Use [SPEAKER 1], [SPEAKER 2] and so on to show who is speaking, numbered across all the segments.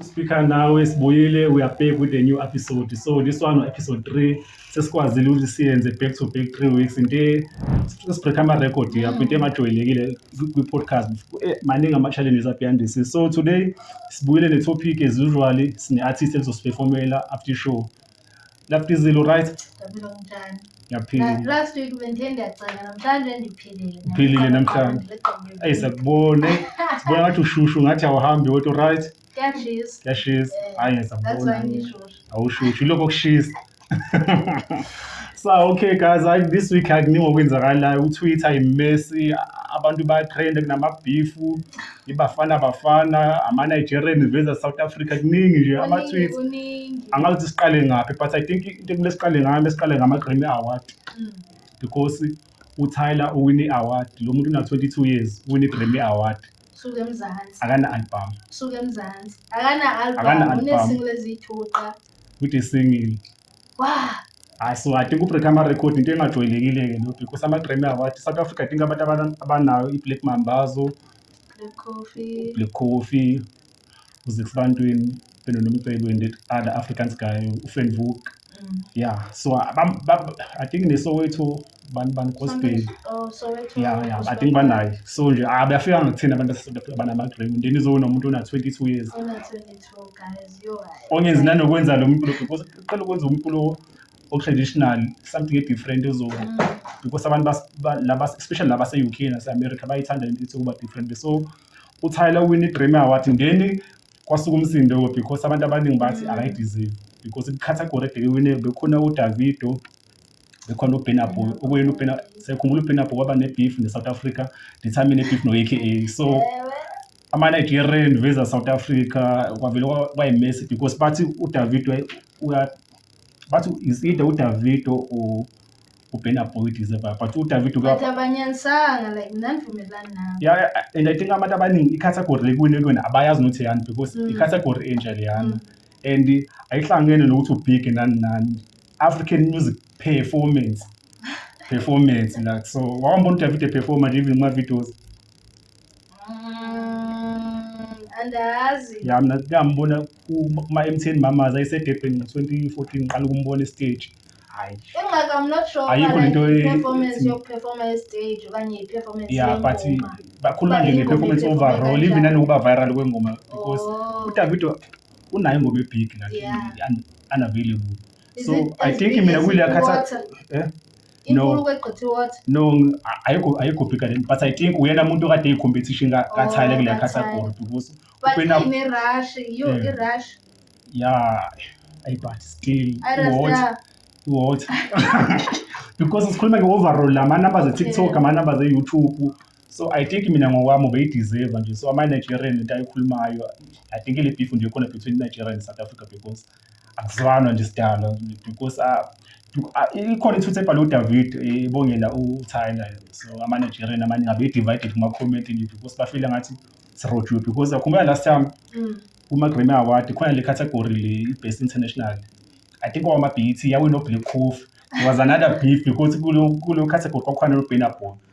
[SPEAKER 1] Speaker nawe sibuyile we are back with a new episode so this one episode 3 sesikwazile ukuthi siyenze back to back 3 weeks into sibreak ama record yakho into emajwayelekile kwi podcast eh, maningi ama challenges abeyandisi so today sibuyile ne topic as usually sine artist elizosiperformela after show Love Dizilo right? Dabelo mtshana. Ngiyaphila. Last week
[SPEAKER 2] bengithe ndiyacela namhlanje ndiphilile. Uphilile namhlanje.
[SPEAKER 1] Ayi sakubone. Sibona ngathi ushushu ngathi awuhambi wethu right? Kuyashisa. Kuyashisa. Eh, Hayi ngisabona. That's why ngishushu. Awushushu lokho kushisa. so okay guys I, this week akuningi okwenzakalayo utwitter imesi abantu bayatrenda kunamabifu ibafana bafana ama-nigerian veza south africa kuningi nje ama-tweets angazi ukuthi siqale ngaphi but i think into ekumele siqale ngayo mesiqale ngama-grammy award mm. because utyler uwine i-award lo muntu una-22 years uwine i-grammy award suke emzansi akana-album suke emzansi akana-album unezingle eziyithuqa
[SPEAKER 2] kude
[SPEAKER 1] singile
[SPEAKER 2] hayi siwadinga
[SPEAKER 1] ubreak amarekhodi into engajwayelekile-ke lo because ama-grammy award south africa adinga abantu abana- abanayo i-black mambazo Black coffee. black coffee uzix bantwini benonomcebo and that other africans guy ufriend vuk Mm. yeah so abam- bab- i think nesowethu bani bani gospel Oh, Soweto. ya
[SPEAKER 2] ya i think
[SPEAKER 1] banayo so nje ah, bayafika ngakuthina abantu abase- abanama-grammy then izowona umuntu ona-twenty-two years Ona 22.
[SPEAKER 2] ongenzi nanokwenza
[SPEAKER 1] lo mculo because uqala ukwenza umculo o-traditional something e-different ezoko mm. because abantu laba especially laba se-uk nase-america bayithanda into ethi ukuba different so utyler win i-grammy award then kwasuka umsindo because abantu abaningi bathi mm. akayideserve because i-category ebheke wine bekhona udavido bekhona ubenabo okuyena ubena sekhumbula ubenabo kwaba ne-beef ne-south africa ndithamine beef no-aka so yeah. ama-nigerian veza south africa kwavele kwayimesi because bathi udavido bathi is either udavido or uben aboyd is ever but udavido but abanyanisanga like
[SPEAKER 2] mnanivumelani nabo yeah and i think abantu
[SPEAKER 1] abaningi icategory ekuyini kuyona abayazi nokuthi yani because mm. icategory enje leyana mm. and ayihlangene nokuthi ubig nani nani african music performance performance like so wawambona udavido performa nje even kuma-videos
[SPEAKER 2] andazi ya mina ngambona
[SPEAKER 1] kuma-mtn mamaza isedebheni ngo-2014 ngiqala ukumbona esiteji hayi ingxaka i'm not sure
[SPEAKER 2] Ayikho lento e- performance
[SPEAKER 1] ethi- yokuperforma
[SPEAKER 2] estage okanye i-performance ya but yengoma.
[SPEAKER 1] bakhuluma nje But ingoma nge-performance iphethwe overall kanjani? even nanokuba viral kwengoma because Oh. udavido unayo ingoma ebig like Yeah. un- unavailable Is so it i as think big mina as kuleya khatha water? eh?
[SPEAKER 2] inkulu kwegqithe what
[SPEAKER 1] no ayikho ayikho bigger than but i think uyena muntu okade eyicompetition ka ka Tyler oh, kule category because ubena ine
[SPEAKER 2] rush you i rush
[SPEAKER 1] yeah ay but still what what because sikhuluma nge overall la ma numbers e TikTok ama numbers e YouTube so i think mina ngokwami ubeyideserve nje so ama-nigerian into ayikhulumayo i think ile beef nje khona between nigeria and south africa because Akuzwanwa nje isidalwa because ah, du- ah, ikhona ithutha ebhale uDavid eh, ebongela uTyler so ama-Nigerian amaningi abe-divided kuma-comment nje because bafile ngathi sirojiwe because akhumbula last time Mm. kuma-Grammy Award khona le category le i-Best International I think kwawama-BET yawina uBlack Coffee there was another beef because kulo kulo category kwakukhona noBurna Boy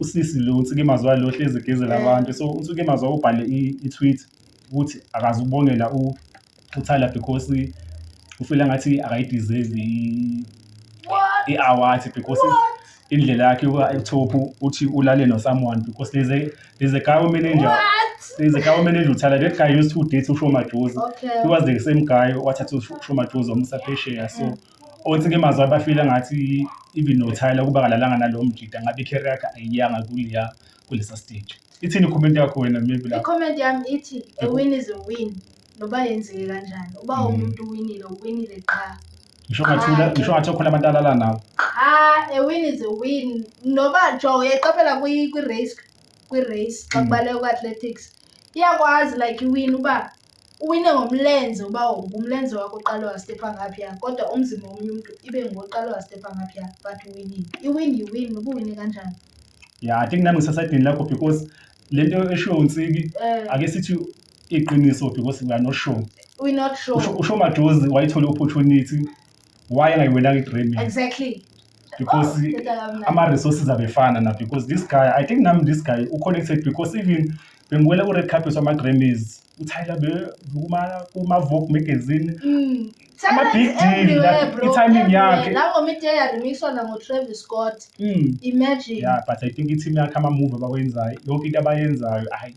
[SPEAKER 1] usisi lo uNsikimazwa walo hlezi egezela Eh. abantu so uNsikimazwa ubhale i- i-tweet ukuthi akazi ukubongela u- uThala because ufila ngathi akayideserve i- What? i-award because indlela yakhe yokuba etop uthi ulale no-someone because there's a, there's a guy manager What? there's a guy manager uThala that guy used to date uShomajozi Okay. he was the same
[SPEAKER 2] guy
[SPEAKER 1] wathatha uShomajozi wamusa phesheya so othi ke mazwa bafile ngathi even nothayela ukuba kalalanga nalowo mjida ngabe i-career yakhe ayiyanga kuliya kulesa stage ithini i-comment yakho wena maybe lapho i-comment yami ithi
[SPEAKER 2] a win is a win noba yenzeke kanjani uba Mm. umuntu uwinile uwinile qha ngisho ngathula
[SPEAKER 1] ngisho ngathi okhona abantu alala nawo qha a win
[SPEAKER 2] is a win noba jo uyayiqaphela kwi- kwi-race kwi-race xa Mm. kubaleka ku-athletics iyakwazi like iwin uba Uwine ngomlenze ubawonke umlenze wakho uqale wastepha ngaphi ya kodwa umzimba womunye umuntu ibe ngoqale wastepha ngaphi ya but uwinile iwin yiwin noba uwine kanjani ya i think
[SPEAKER 1] nami ngisasaydini lakho because le nto eshiwo unsiki Eh. ake sithi iqiniso because we are not sure we not sure usho
[SPEAKER 2] usho majozi
[SPEAKER 1] wayithola opportunity why engayiwenanga igremi exactly
[SPEAKER 2] because
[SPEAKER 1] oh, ama-resources abefana na because this guy i think nami this guy uconnected because even bengiwele ku-red carpet wama-grammys utyler kuma-vogue magazine mm. ama-big deal i-timing yakhe langomithi eyaremixwa
[SPEAKER 2] nangotravis scott mm. imagine yeah but i think
[SPEAKER 1] i-team yakhe ama-move abawenzayo yonke into abayenzayo hayi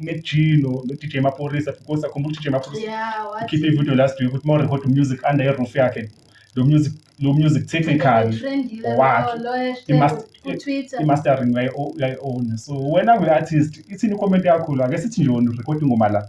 [SPEAKER 1] uMac G no, no DJ Maphorisa because akhumbula ukuthi DJ Maphorisa yeah what ukhiphe ivideo last week ukuthi mawurecord umusic under iroof yakhe lo music lo music technical wakhe i must i mastering way own so wena we artist ithini comment yakho la ke sithi nje wona record ingoma la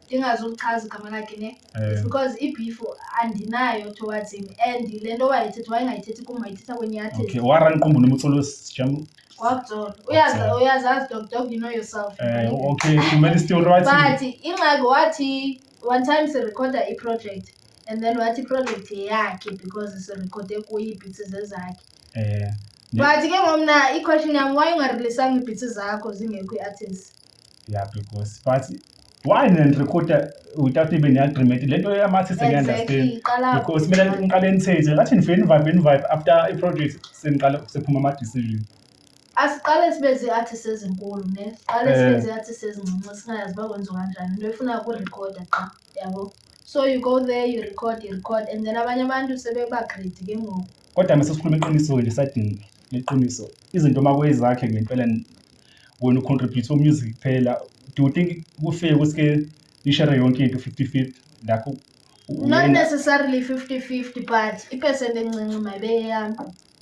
[SPEAKER 2] ndingazi ulichaza igama lakhe ne Eh, because i-beef andinayo towards him and le nto wayethetha wayengayithethi kum wayithetha kwenye yathi okay waranqumbu nomculo
[SPEAKER 1] sijam kwakuzona
[SPEAKER 2] uyazi Wabzola. uyazazi dog dog you know yourself eh okay kumele
[SPEAKER 1] still right but ingxaki
[SPEAKER 2] wathi one time sirekhoda i-project and then wathi i-project yeyakhe because sirekhode kuye iibhitsi zezakhe eh but ke ngomna i-question yam why ungareleasanga iibhitsi zakho zingekho i-artist yeah because
[SPEAKER 1] but why nirecorda without even i-agreement le nto yamathi sengiunderstand because mina ngiqale nithethe ngathi nivele nivibe nivibe after i-project seniqale sephuma ama-decision asiqale sibe zii-artist ezinkulu ne siqale
[SPEAKER 2] sibe eh. zii-artist ezincinci singayazi uba kwenziwa kanjani into efuna ukurekhoda qha yabo so you go there you record you record and then abanye abantu sebebagredi ke ngoku kodwa mese sikhuluma
[SPEAKER 1] iqiniso nje sadinga iqiniso izinto uma kuyizakhe ngempela wena ucontribute umusic kuphela do you think kufike kusike nishare yonke into 50-50 lapho not
[SPEAKER 2] necessarily 50-50 but ipercent encinci mayibeyeyami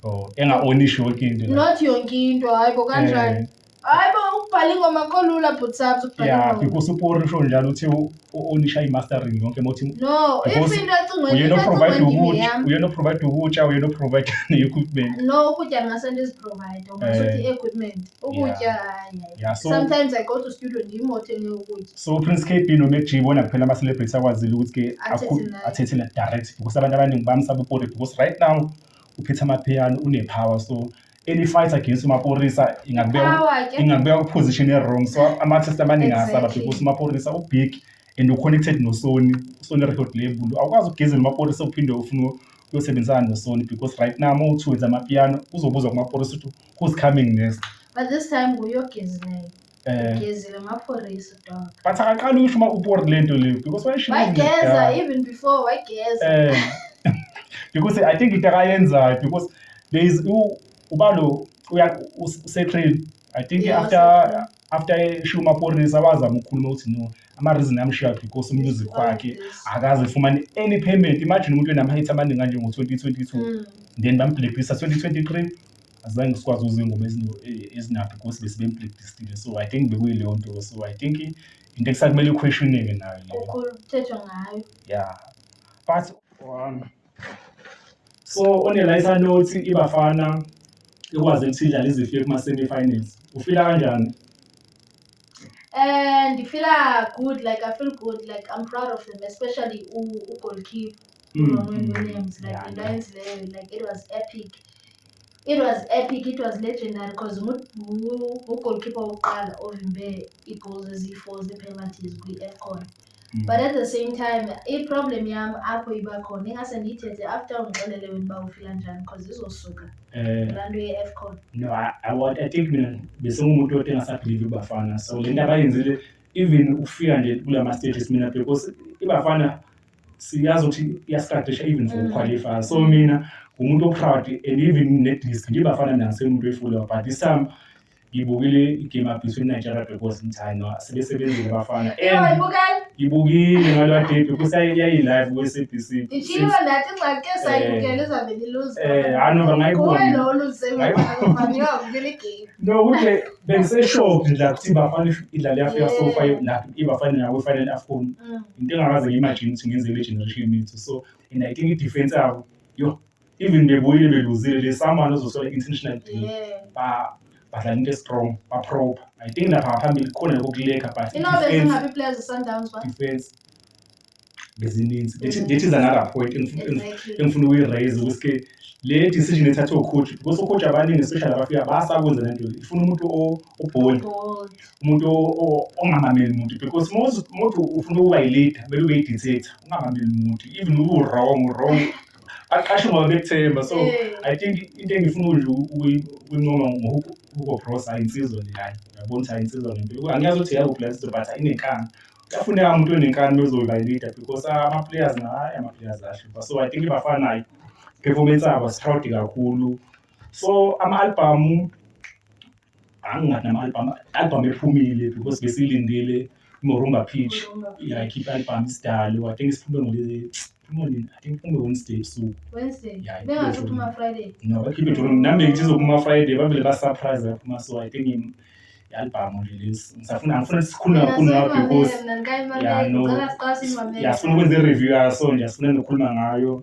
[SPEAKER 2] oh enga-onishi
[SPEAKER 1] yonke into not yonke into
[SPEAKER 2] hayi bo kanjani eh. hayi bo ukubhala ingoma kolula bhutsabs ukubhala ingoma because upori usho njalo
[SPEAKER 1] uthi o- onisha i-mastering yonke emothi no if Because into
[SPEAKER 2] ecingweni uyena into oprovide ecingweni kimi ukudla yami uyena
[SPEAKER 1] oprovide ukutya uyena oprovide ne-equipment no ukutya ngase ndiziprovide Eh. ungasuthi
[SPEAKER 2] i-equipment ukutya hayi hayi. Yeah, so- sometimes i go to studio ndim othenge ukutya so prince kb nomac
[SPEAKER 1] g bona kuphela ama-celebrity akwazile ukuthi ke Athethe akhu- naye. athethe na direct because abantu abaningi bamsaba upori because right now uphethe amaphiyano unepower so any fight against umaporisa ingakubeka Power ke. ingakubeka kuposition ewrong so ama-artist abaningi asaba Exactly. because umaporisa ubig and uconnected nosoni usoni record label awukwazi ukugezela umaporisa uphinde ufune uyosebenzisana nosoni because right now uma uthi wenza amapiano uzobuzwa kumaporisa ukuthi who's coming next But this time nguye
[SPEAKER 2] ogezileyo. Eh, ngezile maphorisa dog but akaqali usho uma
[SPEAKER 1] uboard le nto leyo because wayishilo wayigeza even before wayigeza
[SPEAKER 2] eh
[SPEAKER 1] because i think into akayenzayo because there is u- ubalo uya usetrain i think Yeah, after usetrain. after eshiya umaphorisa wazama ukukhuluma ukuthi no ama-reason amshiya because umusic Because of wakhe this. akaze efumane any payment imagine umuntu enama-hit amaningi kanjengo-2022 Mm. then bamblacklista 2023 azange sikwazi ukuza ingoma ezinaphi because besibempracticile so i think bekuyileyo nto so i think into ekusakumele iquestioneke nayo leyo kuthethwa
[SPEAKER 2] ngayo
[SPEAKER 1] ya but um, so onelaisa nothi ibafana ikwazi ukuthi idlale izifike kuma-semi-finals ufila kanjani um
[SPEAKER 2] ndifila good like i feel good like i'm proud of them especially ugoalkeeper mm. Williams like into ayenzileyo like it was epic It was epic, it was legendary because ngugolkipa wokuqala ovimbe i-goals eziyi-four ze-penalties kwi-afcon mm. but at the same time i-problem yami apho iba khona ingase ndiyithethe after ungixelele wena uba ufila njani because izosuka eh. laa nto ye-afcon no I, I, I
[SPEAKER 1] think mina besengumuntu othi
[SPEAKER 2] engasabhilivi
[SPEAKER 1] ibafana so le nto abayenzile even ukufika nje kula ma-stages mina because ibafana siyazi ukuthi iyasiqaqisha even for mm. qualify so mina ngumuntu o-proud and even ne-disk ngibafana nase umuntu efula but this time ngibukile igame abhiso inigeria because ngithayino sebesebenzile abafana and ngibukile ngalwa debi kusayayi-live kwe-sabc ishilo nathi
[SPEAKER 2] ngxake sayibukela izabe niluze eh hanoba ngayibonangayibonangayibukela igame no kuhle
[SPEAKER 1] bengiseshocked nje ukuthi ibafana idlala yafika so far ibafana nawe final afcon into engakaze ngi-imagine ukuthi ngenzele i-generation yethu so and i think i-defense yabo yo even bebuyile beluzile le someone ozosola intentional deal ba badlala into estrong baproper i think lapha ngaphambili khona lokho kuleka but
[SPEAKER 2] defense
[SPEAKER 1] bezininzi ngithi zanala point engifuna ukuyiraise ukuthi ke le decision ethathwe ucoach because ucoach abaningi especially abafika basakwenza le nto ifuna umuntu obold umuntu ongamameli muntu because most umuntu ufuna ukuba yi-leader kumele ube yi-dictator ungamameli muntu even uwrong wrong baqashe ngoba bekuthemba so i think into engifuna nje ukuyincoma ngohugo bros ayinsizwa nje hayi uyabona ukuthi ayinsizwa ngempilo angiyazi ukuthi yakuphi la sizwe but ayinenkani kuyafuneka umuntu onenkani mezoba yi-leader because ama-players naye ama-players ashipha so i think bafanayo performance abo siproud kakhulu so ama-albhamu angingathi nama-albhamu albhamu ephumile because besilindele imorumba pitch yayikhipha albhamu isidalo i think siphume ngoliphumonini i think phume wednesday ebusuku
[SPEAKER 2] no bakhiphe jolo nami
[SPEAKER 1] bengizizophuma friday bavele basurprise baphuma so i think i-albhamu nje lesi ngisafuna ngifuna sikhulume kakhulu ngayo because ya no yafuna ukwenza i-review yaso nje asifuna nokukhuluma ngayo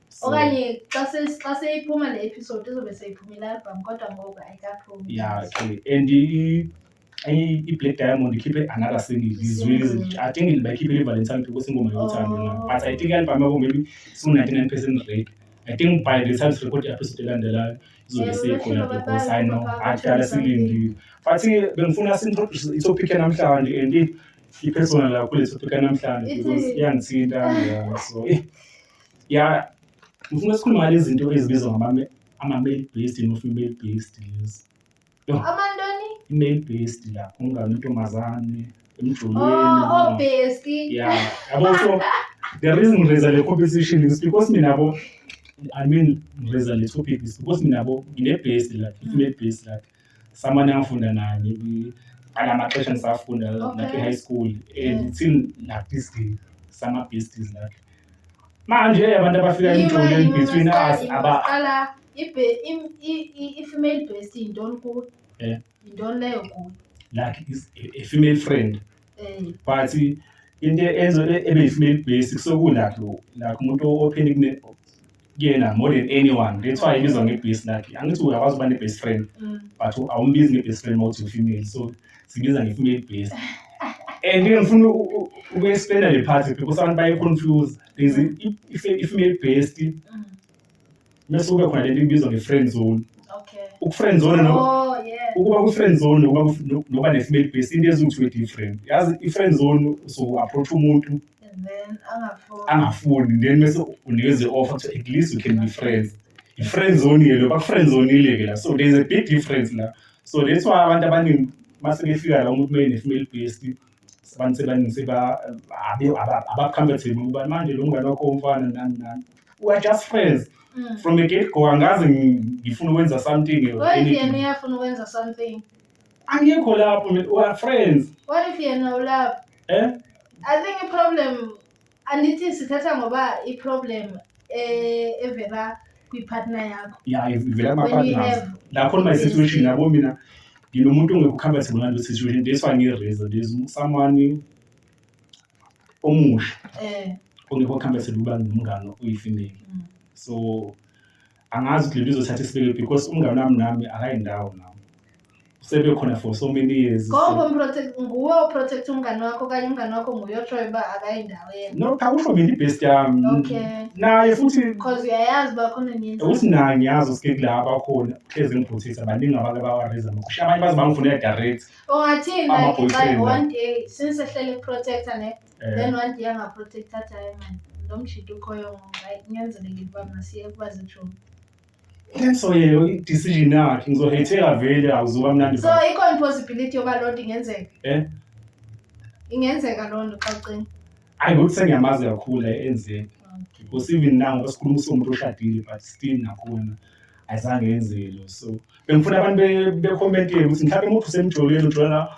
[SPEAKER 2] So, okanye xa se- xa seyiphuma le episode
[SPEAKER 1] izobe seyiphuma i-album kodwa ngoku ayikaphumi ya okay and i- i- i-black diamond ikhiphe another single izwile Single. izinja i think bayikhiphele ivalentine because ingoma yothando Oh. na but i think i-album yabo maybe siwu-99 percent rate i think by the time sirecord i-episode elandelayo izobe Yeah, seyikhona bashilo because i know babazi, akudala babazi silindile but bengifuna sintroduce itopic yanamhlanje and i- i-personal yakho le topic yanamhlanje Ithi- because iyangithinta yeah, so eh, ya ngifuna sikhuluma ngale zinto ezibizwa ngama-male based no-female based lezi amantoni
[SPEAKER 2] i-male based
[SPEAKER 1] la umngane intombazane emjulweni oh, oh, ya
[SPEAKER 2] yabo so
[SPEAKER 1] the reason ngireza le competition is because mina bo i mean ngireza le topic is because mina bo ngine-based lakhe i-female based lakhe someone angifunda naye maybe alamaxesha ngisafunda Okay. like e-high school and Yeah. it's in like this day sama besties like manje eh, abantu abafika emjoleni Yima, between yima, us yima, aba qala ibe- im- i-
[SPEAKER 2] i- i-female breast yintoni kuwe Yeah. yintoni leyo kuwe like is
[SPEAKER 1] a, a female friend Eh, but into enzo ebe female basic soku like like umuntu open kune kuyena more than anyone that's why ibizwa nge-base lakhe angithi uyakwazi ukuba ne-base friend mm. but awumbizi nge-base friend mawuthi u-female so sibiza nge-female base and ke ngifuna uku-explaina le party because abantu baye-confuse there's i-female based mm. mese kube khona lento ibizwa nge-friend zone uku-friend zone oh, ukuba ku-friend zone nokuba ne-female base into eziwu-twenty different yazi i-friend zone so-approach umuntu
[SPEAKER 2] angafuni
[SPEAKER 1] then bese unikeza i-offer to at least we can be friends i-friend zone ke lo baku-friend zonile ke la so there is a big difference la so that's why abantu abaningi mase befika la umuntu uma ene-female based abantu sebaningi seba abakhambatheni ukuba manje lo mngane wakho umfana nani nani we are just friends mm. from a get go angazi ngifuna ukwenza something or anything. Why do you have to
[SPEAKER 2] something? angikho
[SPEAKER 1] lapho mina we are friends What if yena
[SPEAKER 2] ulapho? eh I think i-problem andithi sithatha ngoba i-problem eh, evela kwi-partner yakho. ya ivela When we
[SPEAKER 1] kuma-partners have lapho my this situation thing. yabo mina nginomuntu ongekho comfortable ngalo situation that's why ngi-reason there's someone omusha Eh, ongekho comfortable ukuba nomngane oyifimeli mm. so angazi ukuthi lento izothatha isibeke because umngane wami nami akayindawo nami sebekhona for so many years ngoba umprotect nguwe
[SPEAKER 2] uprotect umngane wakho kanye umngane wakho nguye otroy uba akayindawo yena no cha kusho mina ibest
[SPEAKER 1] yami okay naye
[SPEAKER 2] futhi because
[SPEAKER 1] uyayazi
[SPEAKER 2] bakhona ngenza ukuthi naye ngiyazi usike
[SPEAKER 1] kula abakhona hlezi ngibhuthisa baningi abantu abawareza amakhusha abanye baze bangifunela direct ungathini like one
[SPEAKER 2] day since ehlele protector ne Eh. then wadi yangaprotect athi hayi mani lo
[SPEAKER 1] mshito ukhoyo ngoba hayi kunyanzelekile uba masiye kuba zijomi so yena i-decision yakhe ngizohetheka vele akuzoba mnandi so ba- ikhona i-possibility
[SPEAKER 2] yoba loo nto ingenzeka Eh? ingenzeka loo nto xa ucinga hayi ngokuthi sengiyamazi
[SPEAKER 1] kakhulu la enzeka because even now basikhuluma usomuntu oshadile but still nakhona ayizange yenzeke lo so bengifuna abantu be- bekomentele ukuthi mhlawumbe umuntu usemjoleni ujola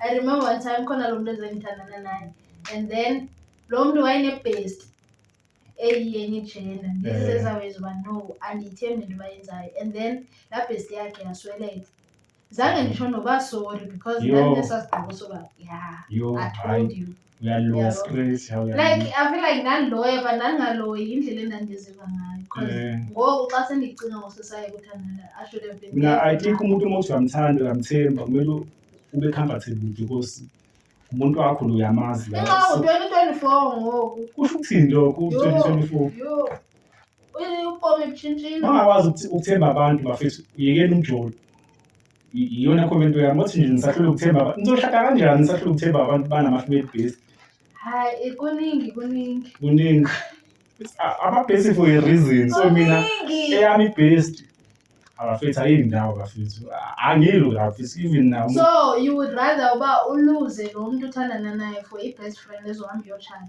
[SPEAKER 2] I remember one time khona lo muntu ezengithandana naye and then lo muntu wayenebest eyiyenye ijena ndizezaweza uba no andiyithembi into bayenzayo and then laa best yakhe yasweleka zange nditsho noba sorry because Yho. ndandinesa sigqibo soba ya Yho, i hayi. told you uyaloya straight how you like i feel like ndandiloya but ndandingaloyi yindlela endandiziva ngayo because Eh. ngoku xa sendicinga ngosesaye kuthandana i should have been mina i think umuntu uma uthi
[SPEAKER 1] uyamthanda uyamthemba kumele ube comfortable because umuntu wakho lo uyamazi la nxa So, u-2024
[SPEAKER 2] ngoku kusho ukuthini lokho Yho, u-2024 yho. Uy-
[SPEAKER 1] ubomi butshintshile
[SPEAKER 2] ungakwazi ukuth- ukuthemba
[SPEAKER 1] abantu bafethu uyekeni umjolo iyona comment yami othi nje nisahlule ukuthemba abantu nizohlaka kanjani nisahlule ukuthemba abantu banamahluko ebhesi hayi
[SPEAKER 2] kuningi kuningi kuningi
[SPEAKER 1] ababhesi for a reason so mina eyami ibest abafethu ayindawo bafethu angilwi bafethu even now so you would rather
[SPEAKER 2] uba uluze lo muntu uthandana naye for i-best friend ezohamba iyoshada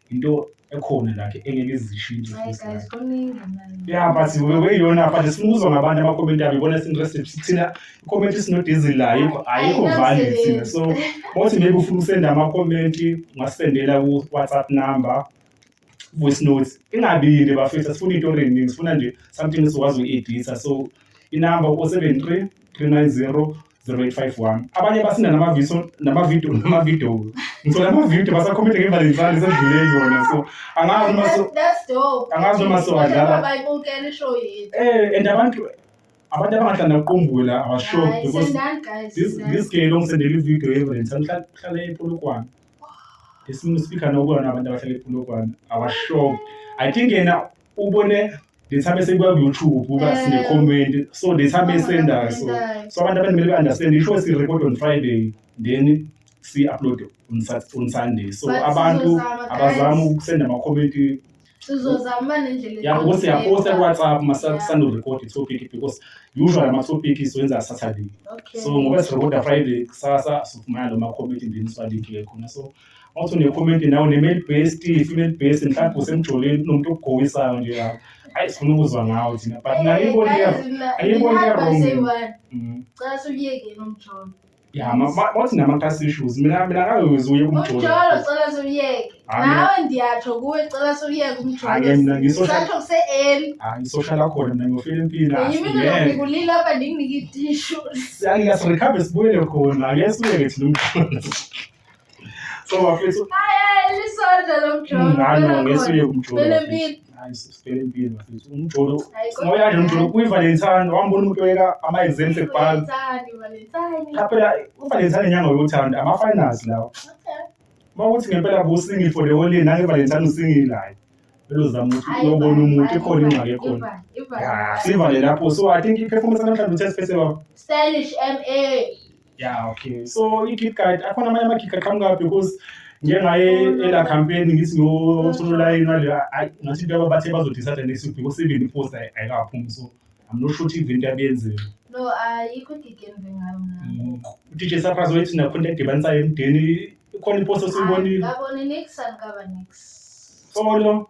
[SPEAKER 1] into ekhona lakhe engeke izishintshe futhi
[SPEAKER 2] like yeah but
[SPEAKER 1] weyiyona but sifuna ngabantu amakomenti abo ibona sinterested sithina ikomenti sinodizili layo ayikho valid thina so bothi maybe ufuna usenda amakomenti ungasendela ku-whatsapp number voice notes ingabili bafethu asifuna into eningi sifuna nje something esikwazi uku-editha so inumber o-seven three three nine zero 0851 abanye basinda namaviso namavidiyo namavidiyo ngicela amavidiyo basakhomithe ngevalentine sedlule yona so angazi noma so angazi noma so adlala bayibukela ishow yethu eh and abantu abantu abangahlanda uqumbula abashock because this this girl ongisendela ividiyo yevalentine uhlala epolokwane esinye uspikha nokuwona abantu abahlala epolokwane abashock i think yena ubone the time esekwa YouTube kuba Eh. sine comment so the time esendayo so Abafundayo. so abantu abanimele ba-understand isho si record on friday then si-upload on, Sat- on sunday so But abantu sizozama, abazama guys. ukusenda ama-comment Sizozama uma nendlela yabo ukuthi eqondile. siyaposta ku-whatsapp Yeah. masisanorecord i-topic because usually ama-topic siwenza saturday Okay. so ngoba sirekoda friday kusasa sifumana lo ma-comment then siwalike khona so Wathi unekhomenti nawe ne-male based female based mhlawumbe usemjoleni kunomuntu okugowisayo nje lapho hayi sifuna ukuzwa ngawo thina but naye ibona ayibona wrong mm. cela suyeke nomjolo ya wathi nama-trust issues mina mina akayoze uye kumjolo umjolo cela
[SPEAKER 2] suyeke nawe ndiyatsho kuwe cela suyeke umjolosatsho kuse-eli hayi isoshala khona
[SPEAKER 1] mina ngiyofela impilo yimikulile apha
[SPEAKER 2] ndinginike itishu siyakuyasirikhambe
[SPEAKER 1] sibuyele khona ngeke sibuyeke thina umjolo So wafethu
[SPEAKER 2] ngano ngesuye umjolo.
[SPEAKER 1] Hayi sibhele impilo mfethu. Umjolo. Ngoya nje umjolo kwi Valentine wambona umuntu oyeka ama exams ebhanga. Cha phela u Valentine inyanga yothanda ama finals lawo. Uma ukuthi ngempela busingi for the whole year nange Valentine usingile hayi. Elozama ukuthi uyobona umuntu ikhona ingxaki ekhona. Sivale lapho so I think i performance namhlanje uthe siphethe baba. Stylish MA.
[SPEAKER 2] yeah
[SPEAKER 1] okay so i-kit guide akhona amanye ama-kit guide
[SPEAKER 2] qhamuka
[SPEAKER 1] because njengaye ela campaign ngithi ngosolayini wale ayi ngathi into yaba bathe bazodecide next week because even i-post ayi- ayikaphumi so i'm not sure ukuthi into yabiyenzeka No,
[SPEAKER 2] ayikho igigi engive ngayo mna. udj surprise
[SPEAKER 1] wayethi nakhona edibanisayo emdeni ikhona i-post esiyibonile Ngabone next and
[SPEAKER 2] ngaba next. solo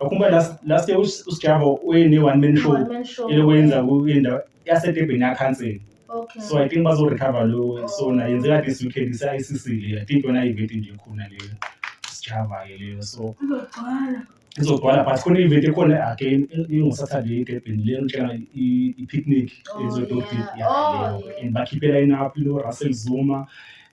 [SPEAKER 1] Akhumba last last year uSjabo uyene one man show One man show. elokwenza kwindawo yasedebheni yakhansela Okay. so i think
[SPEAKER 2] bazorecover
[SPEAKER 1] lo so na yenzeka this weekend isa-icc leyo i think yona event nje khona leyo sijava ke leyo so Uzogcwala. izogcwala but khona i-event ekhona again ingosaturday edebheni leyo ngitshela i- i-picnic Oh, ezodoti yeah. Oh, yeah. and bakhiphela inaphi lo russell zuma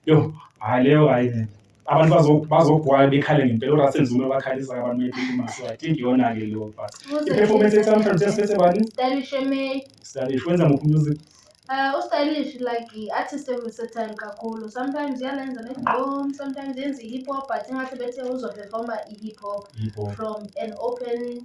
[SPEAKER 1] yo hayi leyo hayi abantu bazo- bazogwaya bekhale ngempela urasen zuma bakhalisa abantu bephuma so i think iyona-ke leyo part i-performance ethi namhlanje sesiphethe bani Stylish May. stylish wenza muphi music Uh, ustylish
[SPEAKER 2] like i-artist eversatile kakhulu sometimes iyalenza negqom sometimes yenza i-hip hop but ingahle bethe uzoperforma i-hip hop Hip hop. from an open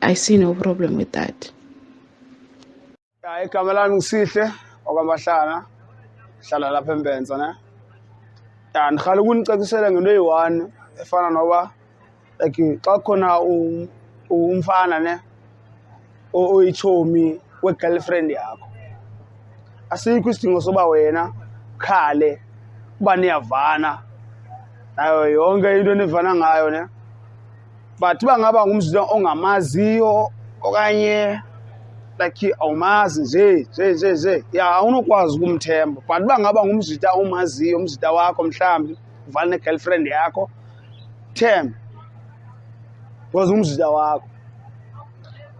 [SPEAKER 3] i see no problem with that ya
[SPEAKER 4] igama lami ngisihle okwamahlana hlala lapha embenza ne ya ndiqala ukunicacisela ngento eyi-one efana noba like xa khona umfana ne oyitshomi we-girlfriend yakho asikho isidingo soba wena khale uba niyavana nayo yonke into enivana ngayo ne but uba ngaba ngumzila ongamaziyo okanye like awumazi nje nje nje nje ya awunokwazi ukumthemba but uba ngaba ngumzita omaziyo umzita wakho mhlawumbi uvala ne-girlfriend yakho themba because umzita wakho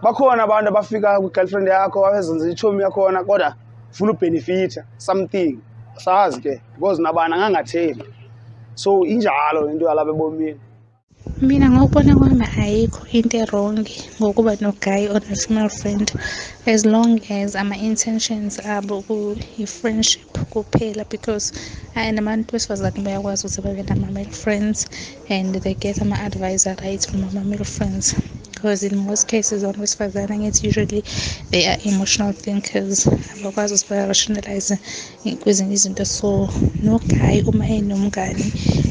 [SPEAKER 4] bakhona abantu abafika kwi-girlfriend yakho abezenza itshomi yakhona kodwa funa ubhenefitha something sazi ke because nabani angangathembi so injalo into yalapha ebomini
[SPEAKER 5] mina ngokubona kwami ayikho into erongi ngokuba nogayi or ne-female friend as long as ama-intentions abo kuyi-friendship kuphela because ayi nabantu besifazane bayakwazi ukuthi babe nama-male friends and they get ama-advice aright from ama-male friends because in most cases abantu besifazane angithi usually they are emotional thinkers abakwazi ukuthi ba-rationalize kwezinye izinto so no guy uma enomngani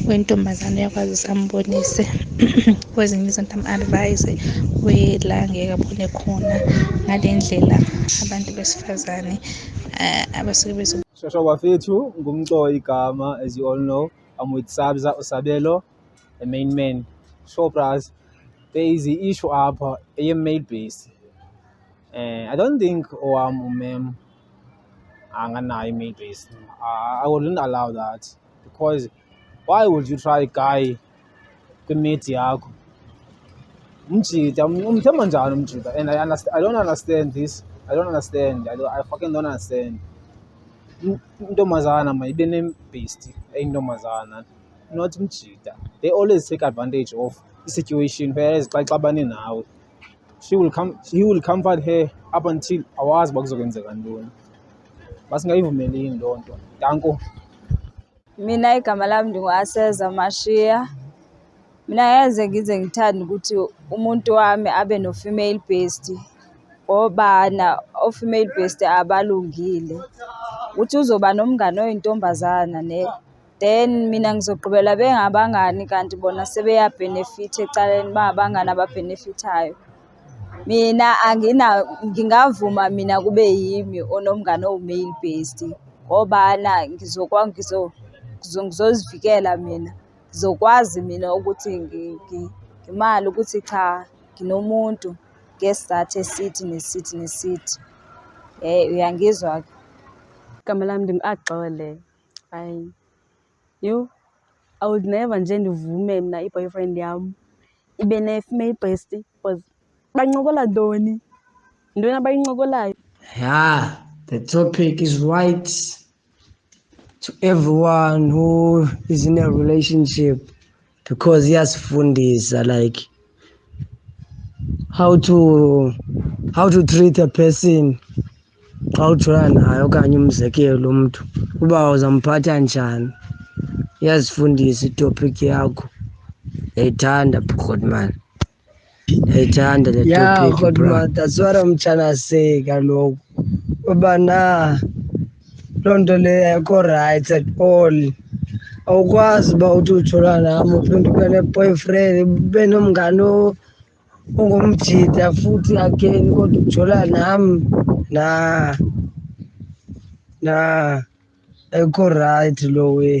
[SPEAKER 5] wentombazane uyakwazi ukuthi ambonise kwezinye izinto am-advise wela ngeke abone khona ngale ndlela abantu besifazane um abasuke bezo shosho bafethu
[SPEAKER 6] ngumcoyi igama as you all know i'm with sabza usabelo the main man shopras there is i-issue apha eye-male base um i don't think owam umem anganayo i-male base i wouldn't allow that because why would you try guy kwimate yakho umjita umthemba njani umjita and I, understand, i don't understand this i don't understand i, don't, I fucking don't understand intombazana mayibe nebhesti eyintombazana not umjita they always take advantage of i-situation whereas xa ixabane nawe she will come he will comfort her up until awazi uba kuzokwenzeka ntoni basingayivumeli yini loo nto danko
[SPEAKER 7] mina igama lami ndinguaseza mashiya mina ngeze ngize ngithande ukuthi umuntu wami abe no-female based ngobana o-female based abalungile ukuthi uzoba nomngane oyintombazana ne then mina ngizogqibela bengabangani kanti bona sebeyabhenefitha ecaleni bangabangani ababhenefithayo mina angina ngingavuma mina kube yimi onomngane owu-male based ngobana ngizokwa ngizo ngizozivikela mina ngizokwazi mina ukuthi ngimali ukuthi cha nginomuntu ngesizathu esithi nesithi nesithi um uyangizwa-ke
[SPEAKER 8] igama lami ndim-axole hayi yho i would never nje ndivume mna i-boyfriend yam ibe ne-female bestie because bancokola ntoni yintoni abayincokolayo ya
[SPEAKER 9] the topic is right to everyone who is in a relationship because iyasifundisa like how to how to treat a person xa ujola naye okanye umzekelo umntu uba uzamphatha njani iyazifundisa itopic yakho yayithanda bhukhotman Ethanda le ya topic kodwa bra. that's what I'm trying to say kaloku uba na loo nto leyo ayikho right at all awukwazi uba uthi ujola nam uphinde ube ne-boyfriend ube nomngane o- ongumjita futhi again kodwa ujola nam na na ayikho right loo way